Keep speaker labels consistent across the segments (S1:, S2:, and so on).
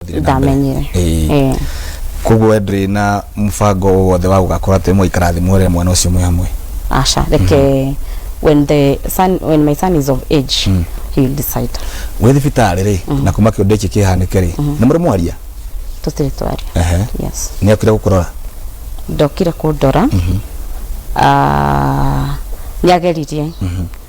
S1: Thiĩ na mbere. ndamenyire Ĩĩ. Eh, koguo we ndũrĩ na mũbango o wothe wa gũgakorwo atĩ mũikarathimwo rĩa mwana ũcio mwĩ hamwe asha like eh, when the son when my son is of age Mm. he will decide wĩ thibitarĩ rĩ na kuma kĩũndũ gĩkĩ kĩhanĩke rĩ nĩ mũrĩ mwaria tũtirĩ twaria Ehe. yes nĩ okire gũkũrora ndokire kũndora Ah, nĩageririe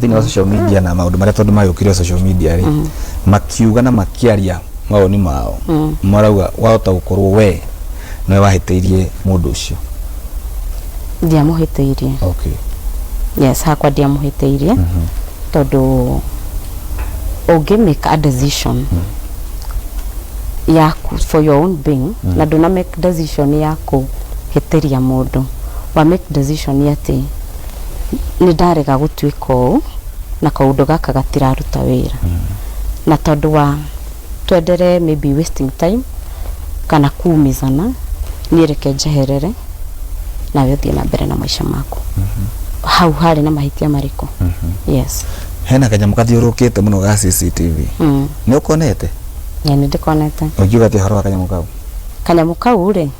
S1: thĩinĩ wa social media na maũndũ marĩa tondũ magĩũkire social media rĩ makiuga na makĩaria mawoni mao marauga wahota gũkorwo we nĩwe wahĩtĩirie mũndũ ũcio ndiamũhĩtĩirie okay. yes hakwa ndiamũhĩtĩirie tondũ ũngĩ make a decision yaku for your own being na ndũna make decision ya kũhĩtĩria mũndũ wa make decision atĩ nĩ ndarega gũtuĩka ũũ na kaũndũ gaka gatiraruta wĩra na tondũ wa twendere maybe wasting time kana kuumizana niĩ reke njeherere nawe ũthiĩ na mbere na maica maku hau harĩ na mahĩtia marĩkũ yes hena kanyamũ kathiũrũkĩte mũno ga cctv Mm. nĩ ũkonete na nĩ ndĩkonete ũngiuga atĩ ũhoro wa kanyamũ kau kanyamũ kau rĩ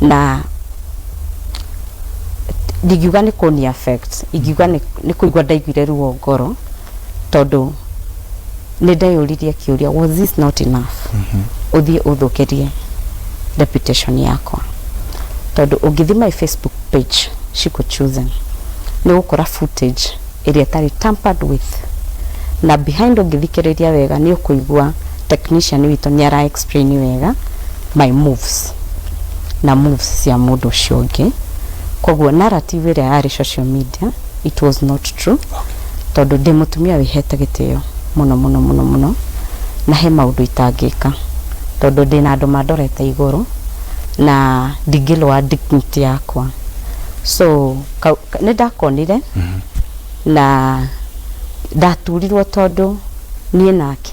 S1: na ndingiuga nĩ kũni affect ingiuga nĩ nĩ kũigua ndaiguire ruo ngoro tondũ nĩ ndeyũririe kĩũria was this not enough ũthiĩ ũthũkĩrie reputation yakwa tondũ ũngĩthiĩ my facebook page Shiko Chosen nĩ ũgũkora footage ĩrĩa ĩtarĩ tampered with. Na behind ũngĩthikĩrĩria wega nĩ ũkũigua technician witũ nĩ ara explain wega my moves na moves cia mũndũ ũcio ũngĩ. Koguo narrative ĩrĩa yarĩ social media it was not true tondũ ndĩ mũtumia wĩhete gĩtĩo mũno mũno mũno mũno na he maũndũ itangĩka tondũ ndĩ na andũ mandorete igũrũ na ndingĩlwa dignity yakwa so kau, ka- nĩ ndakonire na ndaturirwo tondũ niĩ nake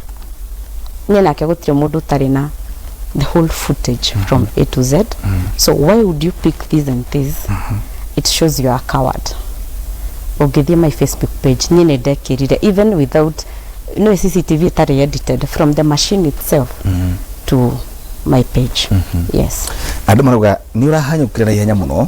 S1: niĩ nake gũtirĩ mũndũ ũtarĩ na the whole footage from a to z so why would you pick this and this it shows you are a coward ũngĩthiĩ my facebook page niĩ nĩ ndekĩrire even without no cctv ĩtarĩ edited from the machine itself to my page yes andå marauga nä å rahanyå kä ra na ihenya må no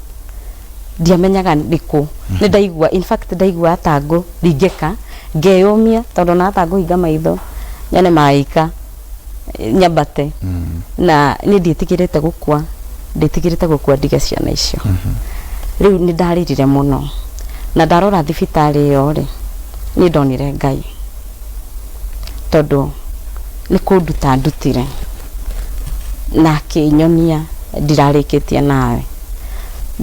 S1: ndiamenyaga ndĩ kũ nĩ ndaigua in fact ndaigua ta ngũ ringĩka ngeyũmia tondũ na ta ngũhinga maitho nyone maika eh, nyambate na nĩ ndĩtigĩrĩte gũkua ndĩtigĩrĩte gũkua ndige ciana icio rĩu nĩ ndarĩrire mũno na ndarora thibitarĩ ĩyo rĩ nĩ ndonire ngai tondũ nĩ kũnduta andutire na akĩnyonia ndirarĩkĩtie nawe.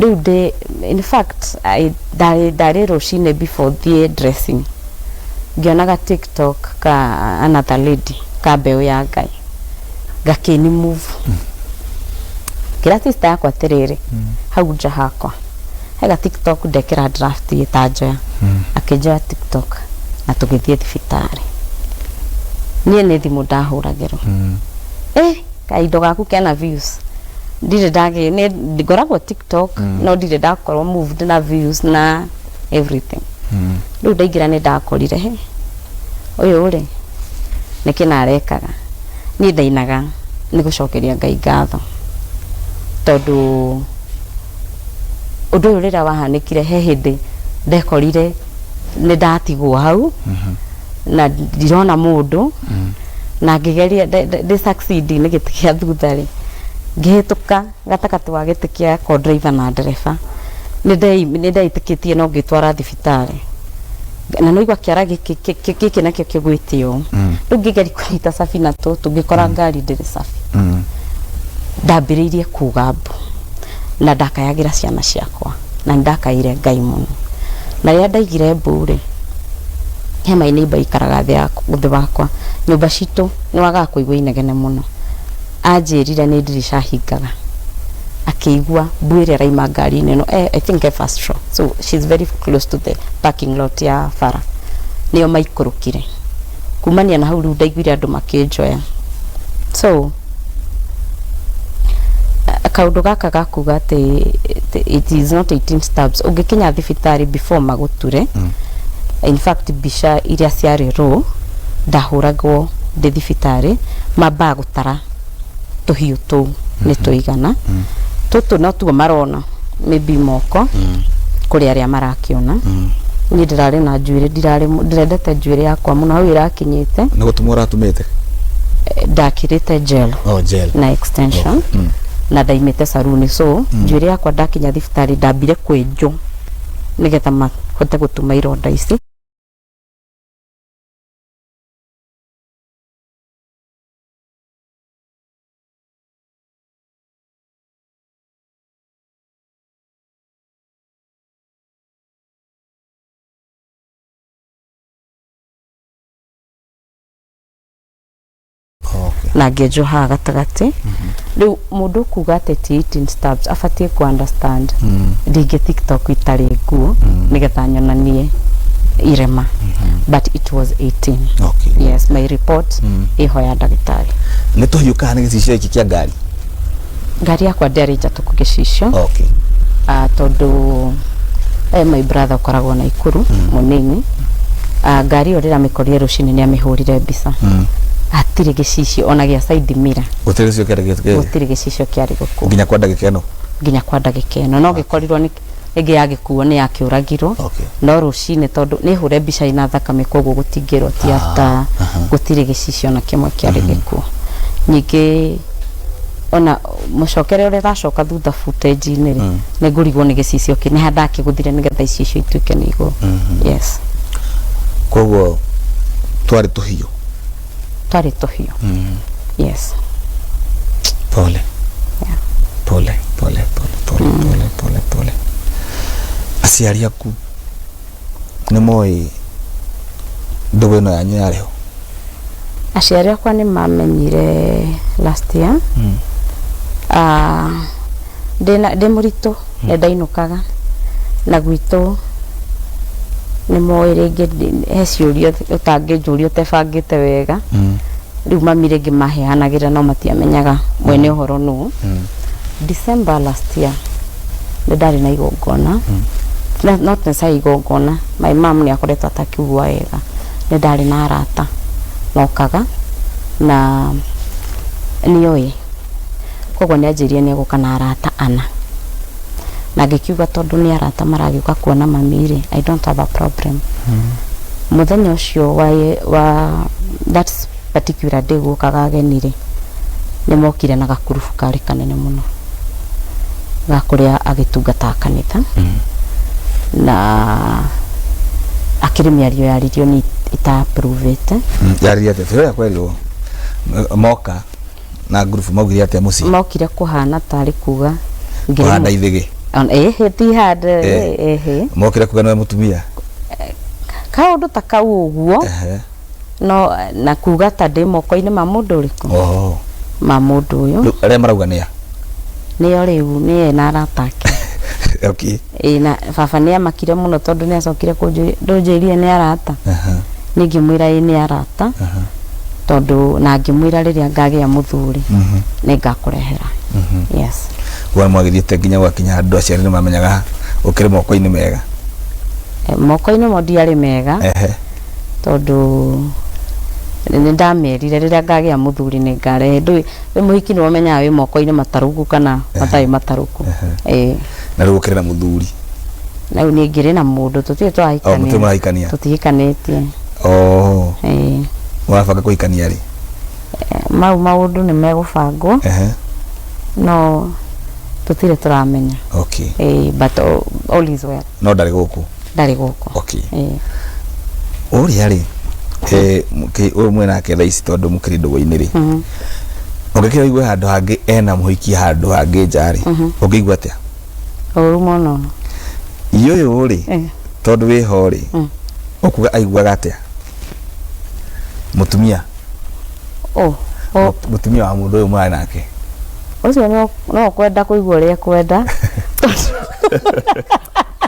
S1: Rĩu ndĩ, in fact ndarĩ rũcinĩ before thiĩ dressing ngĩona ga tiktok ka another lady ka mbeũ ya Ngai gakĩni move. Ngĩra sister yakwa atĩrĩrĩ, hau nja hakwa. he ga tiktok ndekĩra draft ĩtanjoya akĩnjoya tiktok na tũgĩthiĩ thibitarĩ niĩ nĩ thimũ ndahũragĩrwo eh kaindo gaku kena views ndirĩ ndagĩ nĩ- ngoragwo tiktok no ndirĩ ndakorwo moved na views na everything rĩu ndaingĩra nĩ ndakorire he ũyũ rĩ nĩ kĩna arekaga niĩ ndainaga nĩ gũcokeria ngai ngatho tondũ Ũndũ ũyũ rĩrĩa wahanĩkire he hĩndĩ ndekorire nĩ ndatigwo hau mhm. na ndirona mũndũ mhm. na ngĩgeria ndĩ succeed nĩ gĩtĩ kĩa thutha rĩ ngĩhĩtũka gatagatĩ wa gĩtĩ kĩa ko driver na ndereba nĩ ndeitĩkĩtie no ngĩtwara thibitarĩ na nä igua kä ara gä kä nakio kä gwä te å mm. rä u ngä geri kå nyita cabi na tå tå ngä kora mm. ngari ndä rä cabi mm. ndambä rä irie kå gambå na ndakayagĩra ciana ciakwa na ndakaire Ngai mũno na rĩrĩa ndaigire mbuu rĩ he my neighbor ikaraga thĩ wakwa nyũmba citũ nĩ wagaga kũigua inegene mũno anjĩrire nĩ ndirica hingaga akĩigua mbuu ĩrĩa ĩrauma ngari-inĩ ĩno I think e first floor so she's very close to the parking lot ya bara nĩyo maikũrũkire. kumania na hau rĩu ndaiguire andũ makĩnjoya so kaundu gaka gakuga ati it is not 18 stabs ungikinya thibitari before maguture mm. in fact mbica iria ciarĩ ro ndahuragwo ndi thibitari mambaa gutara tũhiũ tũu nĩ tũigana tũtũ natuo marona maybe moko kũrĩ arĩa marakĩona niĩ ndĩrarĩ na njuĩrĩ ndirarĩ mũ- ndĩrendete njuĩrĩ yakwa mũno hau ĩrakinyĩte nä gå tå må ũratũmĩte eh, ndakĩrĩte gel o njel na extension na ndaimĩte saruni so njuĩrĩ yakwa ndakinya thibitarĩ ndambire kwenjwo nĩgetha mahote gũtuma ironda ici na ngenjoha gatagatĩ rĩu Mũndũ kuga atĩ ti eating stabs abatie ku understand mm. ndingĩ tiktok itarĩ nguo mm. nĩgetha nyonanie irema mm -hmm. but it was 18 okay. yes my report mm. iho ya ndagĩtarĩ nĩ tũhiũkaga nĩ gĩcicio gĩkĩ kĩa ngari ngari yakwa ndĩarĩ njatũku gĩcicio okay. uh, tondũ eh, my brother ũkoragwo na ikuru mm. mũnini uh, ngari ĩyo rĩramĩkorire rũcinĩ nĩ amĩhũrire mbica mm. atirĩ gĩcicio ona gĩa side mirror gũtirĩ gĩcicio kĩarĩ gĩkĩ gũtirĩ gĩcicio kĩarĩ gĩkuũ nginya kwa ndagĩka ĩno nginya kwa ndagĩka ĩno no gĩkorirwo nĩ rĩngĩ yagĩkuo nĩ yakĩũragirwo Okay. no rũcinĩ tondũ nĩ hũre mbica ina thakame koguo gũtingĩrwo ti after gũtirĩ gĩcicio na kĩmwe kĩarĩ gĩkuũ ningĩ ona mũcokere ũrĩa ũracoka thutha footage-inĩ rĩ nĩ ngũrigwo nĩ gĩcicio kĩ nĩ handũ ndakĩgũthire nĩgetha icicio ituĩke nĩ igũrũ yes koguo twarĩ tũhiũ twarĩ tũhiũ mm. yes pole yeah. pole pole pole pole mm. pole pole pole aciari aku nĩ moĩ ndũgũ ĩno yanyu yarĩ ho aciari akwa nĩ mamenyire last year mm. uh, ndĩna ndĩ mũritũ nĩ ndainũkaga na gwitũ nĩ moĩ rĩngĩ ndi- he ciũria ũtangĩnjũria ũtebangĩte wega rĩu mami rĩngĩ maheanagĩra no matiamenyaga mwene ũhoro nũ December last year nĩ ndarĩ na igongona Na- not necessarily igongona my mom nĩ akoretwo atakiugua wega nĩ ndarĩ na arata nokaga na nĩoĩ Koguo nĩ anjĩrire nĩ egũka na arata ana. Na ngĩkiuga tondũ nĩ arata maragĩũka kuona mami rĩ, I don't have a problem. Mũthenya ũcio wa, wa that particular day gũkaga ageni rĩ, nĩ mokire na gakurubu karĩ kanene mũno ga kũrĩa agĩtungataga kanitha. Na akĩrĩ mĩario yaririo niĩ ita approve ĩte. Yarĩria atĩa? Tũrĩa kwerirwo moka na ngurubu maugire atĩa mũciĩ mokire kũhana tarĩ kuga ngĩrĩ kũhanda mũ- ithĩgĩ On- ĩhĩ ti hande Eh. ĩhĩ, ĩhĩ mokire kuga nĩwe mũtumia kaũndũ ta kau ũguo Ehe. no na kuga ta ndĩ moko-inĩ ma mũndũ ũrĩkũ Oho. ma mũndũ ũyũ Rĩu arĩa marauga nĩa nĩo rĩu nĩye na arata ake okay Ĩĩ na baba nĩ aamakire mũno tondũ nĩ acokire kũnjũria, ndũnjĩrire nĩ arata? Aha. Niĩ ngĩmwĩra ĩĩ nĩ arata, Aha. tondũ na ngĩmwĩra rĩrĩa ngagĩa mũthuri, Mhm. nĩ ngakũrehera. Mhm. Yes. Wa mwagĩthiĩte nginya gwakinya andũ aciari nĩ mamenyaga ũkĩrĩ moko-inĩ mega? Eh, Moko-inĩ mo ndiarĩ mega, Ehe. tondũ nĩ ndamerire rĩrĩa ngagĩa mũthuri nĩ ngarehe. Ndũĩ, wĩ mũhiki nĩ ũmenyaga wĩ moko-inĩ matarũku kana matarĩ matarũku. Ehe. Ĩĩ. na rĩu ũkĩrĩ na mũthuri na rĩu nĩngĩrĩ na mũndũ tũtirĩ Oh, tũrahikania mũtirĩ mũrahikania tũtihikanĩtie oh Ĩĩ. mũrabanga kũhikania rĩ mau maũndũ nĩ megũbangwo ehe no tũtirĩ tũramenya okay Ĩĩ, but all- all is well no ndarĩ gũkũ ndarĩ gũkũ Okay. Eh, ũrĩa rĩ eh, mũkĩ- ũyũ mwĩ nake thaa ici tondũ mũkĩrĩ ndũgũ-inĩ rĩ mhm. ũngĩkĩra igue handũ hangĩ ena mũhiki handũ hangĩ nja rĩ ũngĩigua atĩa ũru mũno iũyũ rĩ Eh, tondũ wĩ ho rĩ Mm. ũkuga aiguaga atĩa mũtumia ũ- ũ- mũtumia wa mũndũ ũyũ mwarĩ nake ũcio no- no kwenda kũigua ũrĩa kwenda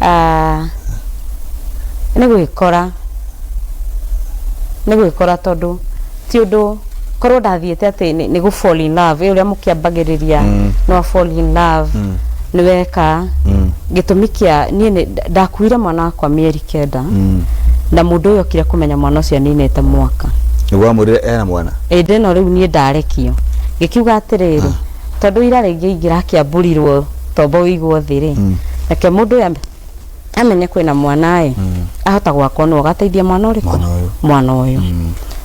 S1: aah nĩ gwĩkora, nĩ gwĩkora tondũ ti ũndũ korwo ndathiĩte atĩ nĩ nĩ gũ fall in love ĩ ũrĩa mũkĩambagĩrĩria no fall in love nĩ weka gĩtũmi kĩa niĩ nĩ ndakuire mwana wakwa mĩeri kenda na mũndũ ũyũ okire kũmenya mwana ũcio aninĩte mwaka nĩguo wamwĩrire ena mwana ĩndĩ no rĩu niĩ ndarekio ngĩkiuga atĩrĩrĩ tondũ ira rĩngĩ ingĩrakĩamburirwo tomba ũigwo thĩ rĩ reke mũndũ ũyũ ame- amenye kwĩna mwana ĩ ahota gwakwa nũ agateithia mwana ũrĩkũ Mwana ũyũ. mwana ũyũ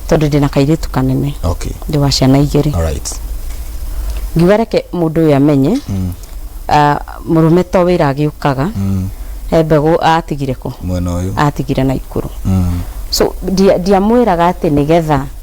S1: tondũ ndĩna kairĩtu kanene okay ndĩ wa ciana igĩrĩ all right ngiuga reke mũndũ ũyũ amenye ah, mũrũme to wĩra agĩũkaga he mbegũ atigire kũ mwena ũyũ atigire na ikũrũ Mm. so ndia- ndiamwĩraga atĩ nĩgetha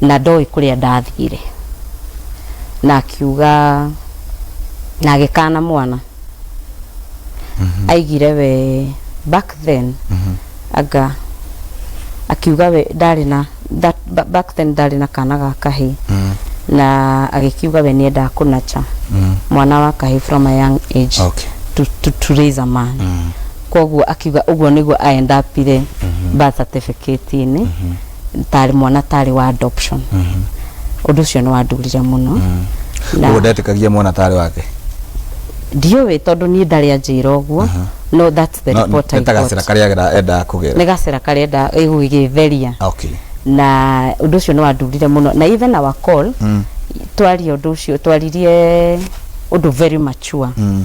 S1: na ndoĩ kũrĩa ndathire na akiuga na agĩkana mwana aigire we back then anga akiuga we ndarĩ na that, ba- back then ndarĩ na kana ga kahĩ na agĩkiuga we nĩendaga kũnacha mwana wa kahĩ from a young age Okay. to, to, to raise a man koguo akiuga ũguo nĩguo aendapire birth certificate-inĩ tarĩ mwana tarĩ wa adoption mhm. ũndũ ũcio nĩ wandurire mũno mhm. ũguo ndetĩkagia mwana tarĩ wake ndiũĩ tondũ niĩ ndarĩ anjĩra ũguo mhm. no that's the report I got gacĩra karĩa endaga kũgera nĩ gacĩra karĩa endaga gũgĩtheria okay na ũndũ ũcio nĩ wandurire mũno na even our call mm. twaria ũndũ ũcio twaririe ũndũ very mature mm.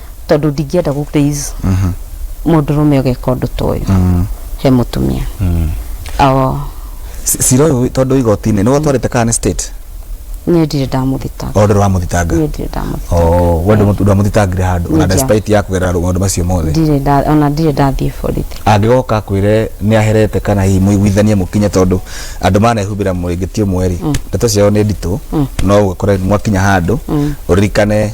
S1: tondå ndingĩenda gå please må ndå rå me å geka å ndå ta å yå he må tumia Awo, cira å yå tondå igotinä nä watwarä te kana nä state niä ndirä ndamå thitanga o ndå wa må thitanga niä ndirä ndamå Oh, we ndå ndå amuthitangire handu ona Nija. despite ya kugerera maundu macio mothe ndirä nda- ona ndirä ndathiä borithi angĩgoka akwĩre nĩ aherete kana hihi mũiguithanie mũkinye tondũ andũ manehumbĩra mũrĩngĩti ũmwe rĩ ndeto ciao nĩ nditũ no ũgakora mwakinya handũ ũririkane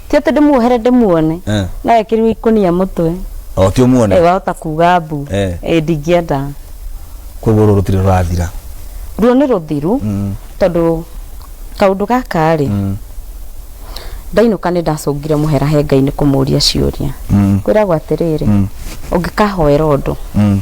S1: ti atĩ ndĩmuohere ndĩmuone Eh. no ekĩrirwo ikũnia mũtwe o ti ũmuone Eh, wahota kuga mbu Eh. Eh, ndingĩenda koguo rũrũ rũtirĩ rũrathira ruo nĩ rũthiru Mm, tondũ kaũndũ gaka rĩ mm, ndainũka nĩ ndacũngire mũhera hengai nĩ kũmũria ciũria mm, kwĩragwo atĩrĩrĩ Mm. ũngĩkahoera ũndũ mm.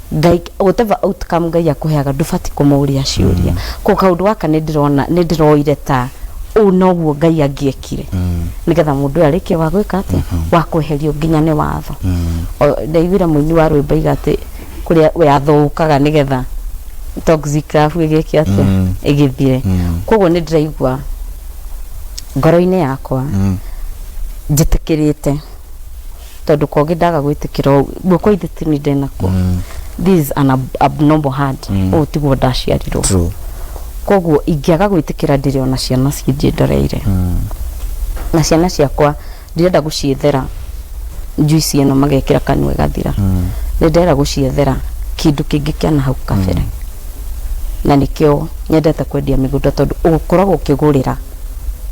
S1: ngai whatever outcome ngai akũheaga ndũbati kũmũria ciũria kå kaũndå gaka nä ndĩrona nä ndĩroire ta ũũ noguo ngai angĩekire nĩgetha mũndũ ũyũ arĩkie wa gwĩka atĩ wa kweherio nginya nĩ watho O- ndaiguire mũini wa rwĩmbo iga atĩ kũrĩa watho ũkaga nĩgetha toxic love ĩgĩke atĩa Mm. ĩgĩthire Mm. koguo nĩ ndĩraigua ngoro-inĩ yakwa njĩtĩkĩrĩte tondå kogä ndaga gwä tä kä ra guoko ithe ti nä ndenakwo this is an ab abnormal hand å yå tiguo ndaciarirwo True. koguo ingĩaga gwĩtĩkĩra ndĩrĩ ona ciana cinjĩndoreire na ciana ciakwa ndirenda gũciethera njuici ĩno magekĩra kanua ĩgathira nĩndĩrenda gũciethera kĩndũ kĩngĩ kĩa na hau kabere na nĩkĩo nyendete kwendia mĩgũnda tondũ ũkoragwo ũkĩgũrĩra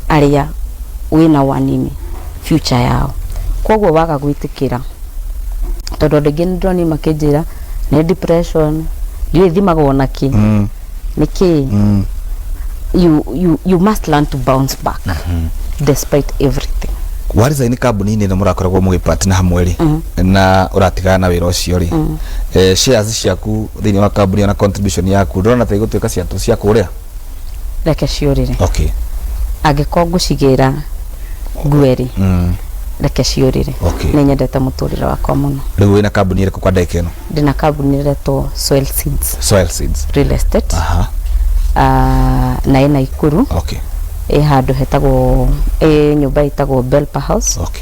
S1: arĩa wĩnao anini future yao. Koguo waga gwĩtĩkĩra, tondũ andũ aingĩ nĩndĩrona niĩ makĩnjĩra nĩ depression, ndiũĩ thimagwo na kĩ, nĩ kĩ, you, you, you must learn to bounce back despite everything. warisaini kambuni-inĩ ĩno mũrakoragwo mũgĩpatna hamwe rĩ na ũratigana na wĩra ũcio rĩ eh, shares ciaku thĩinĩ wa kambuni ona contribution yaku ndũrona ta igũtuĩka cia cia kũrĩa reke ciũrĩre okay angĩkorwo ngũcigĩra ngueri mm. reke ciũrĩre Okay. nĩ nyendete mũtũrĩre wakwa mũno rĩu wĩna kambuni ĩrĩkũ kwa ndagĩka ĩno ndĩna kambuni ĩretwo soil seeds soil seeds real estate aha Ah, na ĩna ikuru okay ĩ handũ hetagwo ĩ nyũmba ĩtagwo belpa house okay